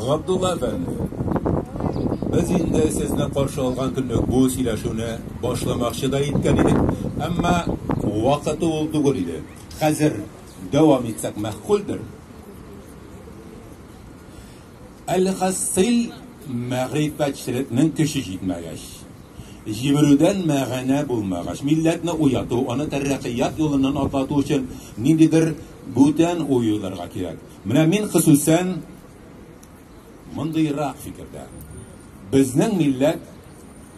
Габдулла әфәнде, без инде сезне каршы алган көнлек бу сөйләшүне башламакчы да иткән идек, әмма вакыты ул түгел иде. Хәзер дәвам итсәк мәгъкульдер? Әлхасыйл, мәгърифәтчелекнең көче җитмәгәч, җимерүдән мәгънә булмагач, милләтне уяту, аны тәрәкыят юлыннан атлату өчен ниндидер бүтән уй уйларга кирәк. Менә мин хосусән мондыйрак фикердә. Безнең милләт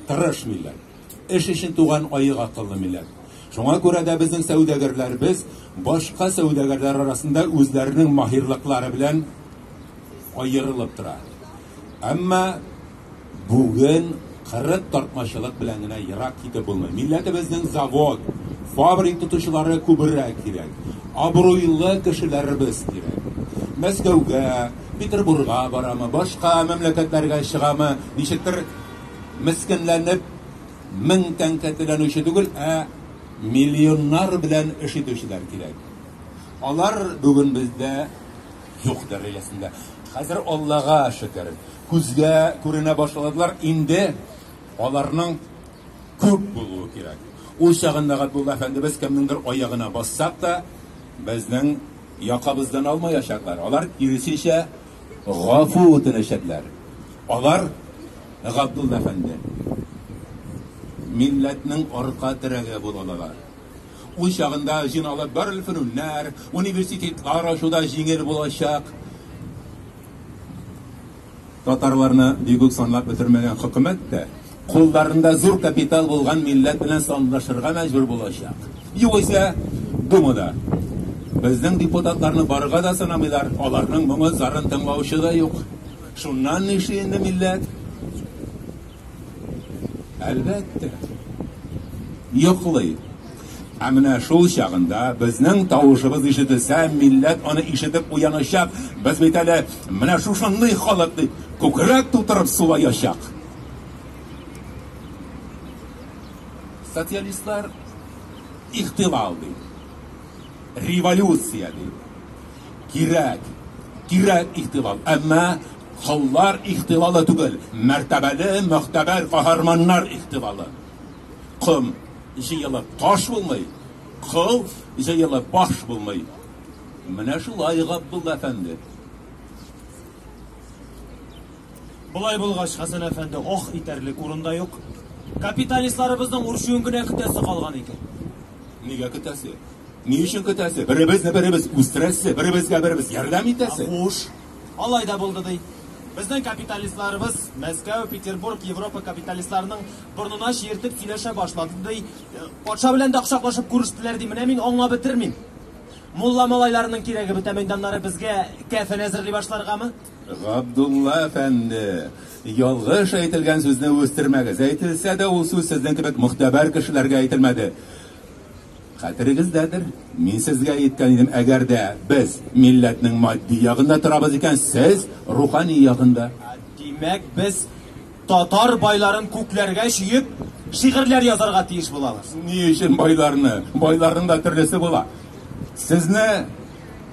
тырыш милләт. Эш өчен туган аек акыллы милләт. Шуңа күрә дә безнең сәүдәгәрләребез башка сәүдәгәрләр арасында үзләренең маһирлыклары белән аерылып тора. Әмма бүген кырык тартмачылык белән генә ерак китеп булмый. Милләтебезнең завод, фабрик тотучылары күберәк кирәк. Абруйлы кешеләребез кирәк. Мәскәүгә, Петербурга барамы, башка мәмләкәтләргә чыгамы, ничектер, Мескенләнеп, мең тәңкә түләнүче түгел, ә миллионнар белән эш итүчеләр кирәк. Алар бүген бездә юк дәрәҗәсендә. Хәзер Аллага шөкер, күзгә күренә башладылар, инде аларның күп булуы кирәк. Ул чагында Габдулла әфәндебез кемнеңдер аягына бассак та, безнең якабыздан алмаячаклар. Алар, киресенчә, гафу үтенәчәкләр. Алар, Габдулла әфәнде, милләтнең арка терәге булалар. Ул чагында җыйналып барлык фәнүннәр, университетлар ачу да җиңел булачак. Татарларны бигүк санлап бетермәгән хөкүмәт тә Кулларында зур капитал булган милләт белән санлашырга мәҗбүр булачак. Югыйсә, Думада безнең депутатларны барырга да санамыйлар, аларның моңын-зарын тыңлаучы да юк. Шуннан нишли инде милләт? Әлбәттә, йоклый. Ә менә шул чагында безнең тавышыбыз ишетелсә, милләт аны ишетеп уянычак. Без бит әле менә шушындый халык дип күкрәк тутырып сулаячак. Социалистлар ихтилал ди. Революция ди. Кирәк. Кирәк ихтилал. Әмма коллар ихтилалы түгел. Мәртәбәле, мөхтәбәр каһарманнар ихтилалы. Ком җыелып таш булмый, кыл җыелып баш булмый. Менә шулай Габдулла әфәнде. Болай булгач, Хәсән әфәнде ох итәрлек урын да юк. Капиталистларыбызның үрчүен генә көтәсе калган икән. Нигә көтәсе? Ни өчен көтәсе? Беребезне беребез үстерәсе, беребезгә беребез ярдәм итәсе. Хуш, алай да булды ди. Безнең капиталистларыбыз Мәскәү, Петербург, Европа капиталистларының борнына чиертеп сөйләшә башлады ди. Э, патша белән дә кочаклашып күрештеләр ди. Менә мин аңлап бетермим. Мулла малайларының кирәге бетә мәйданнары безгә кәфен әзерли башларгамы? Габдулла әфәнде, ялгыш әйтелгән сүзне үстермәгез. Әйтелсә дә, ул сүз сезнең кебек мөхтәбәр кешеләргә әйтелмәде. Хәтерегездәдер, мин сезгә әйткән идем, әгәр дә без милләтнең матди ягында торабыз икән, сез рухани ягында. Димәк, без Татар байларын күкләргә чөеп, шигырьләр язарга тиеш булабыз. Ни өчен байларны? Байларның да төрлесе була. Сезне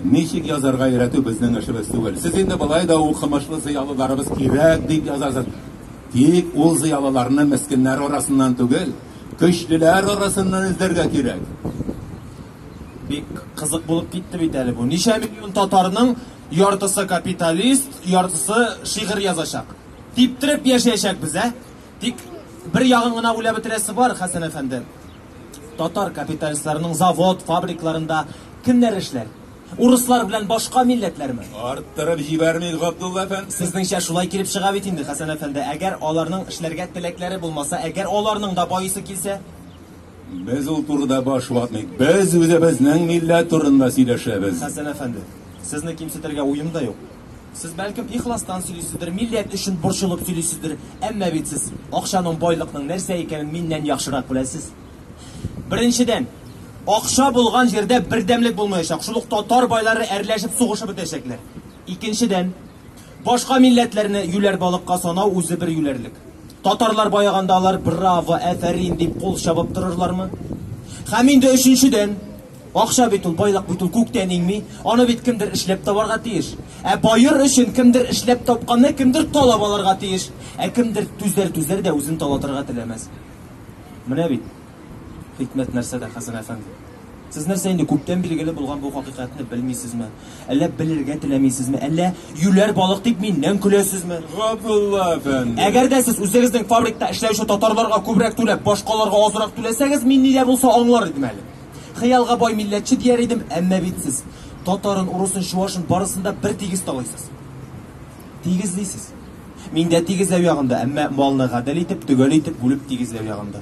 ничек язарга өйрәтү безнең эшебез түгел. Сез инде болай да укымышлы зыялыларыбыз кирәк дип язасыз. Тик ул зыялыларны мескеннәр арасыннан түгел, көчлеләр арасыннан эзләргә кирәк. Бик кызык булып китте бит әле бу. Ничә миллион татарның яртысы капиталист, яртысы шигырь язачак. Типтереп яшәячәкбез, ә? Тик бер ягын гына уйлап бетерәсе бар, Хәсән әфәнде. Татар капиталистларының завод, фабрикларында кемнәр эшләр? Урыслар белән башка милләтләрме? Арттырып җибәрмик, Габдулла әфәнде. Сезнеңчә шулай килеп чыга бит инде, Хәсән әфәнде. Әгәр аларның эшләргә теләкләре булмаса, әгәр аларның да баисы килсә? Без ул турыда баш ватмыйк. Без үзебезнең милләт турында сөйләшәбез. Хәсән әфәнде, сезне кимсетергә уем да юк. Сез бәлкем ихластан сөйлисездер, милләт өчен борчылып сөйлисездер, әмма бит сез акчаның, байлыкның нәрсә икәнен миннән яхшырак беләсез. Беренчедән, акча булган җирдә бердәмлек булмаячак, шул ук татар байлары әрләшеп сугышып бетәчәкләр. Икенчедән, башка милләтләрне юләр балыкка санау үзе бер юләрлек. Татарлар баяганда алар браво, әфәрин дип кул чабып торырлармы? Һәм инде өченчедән, Акча бит ул, байлык бит ул күктән иңми. Аны бит кемдер эшләп табарга тиеш. Ә баер өчен кемдер эшләп тапканны кемдер талап алырга тиеш. Ә кемдер түзәр түзәр дә үзен талатырга теләмәс. Менә бит. Хикмәт нәрсәдә, Хәсән әфәнде? Сез нәрсә инде күптән билгеле булган бу хакыйкатьне белмисезме? Әллә белергә теләмисезме? Әллә юләр балык дип миннән көләсезме? Габдулла әфәнде. Әгәр дә сез үзегезнең фабрикта эшләүче татарларга күбрәк түләп, башкаларга азрак түләсәгез, мин нидә булса аңлар идем әле. Хыялга бай милләтче дияр идем, әмма бит сез татарын, урысын, чуашын барысын да бер тигез талыйсыз. Тигезлисез. Мин дә тигезләү ягында, әмма малны гадел итеп, төгәл итеп бүлеп тигезләү ягында.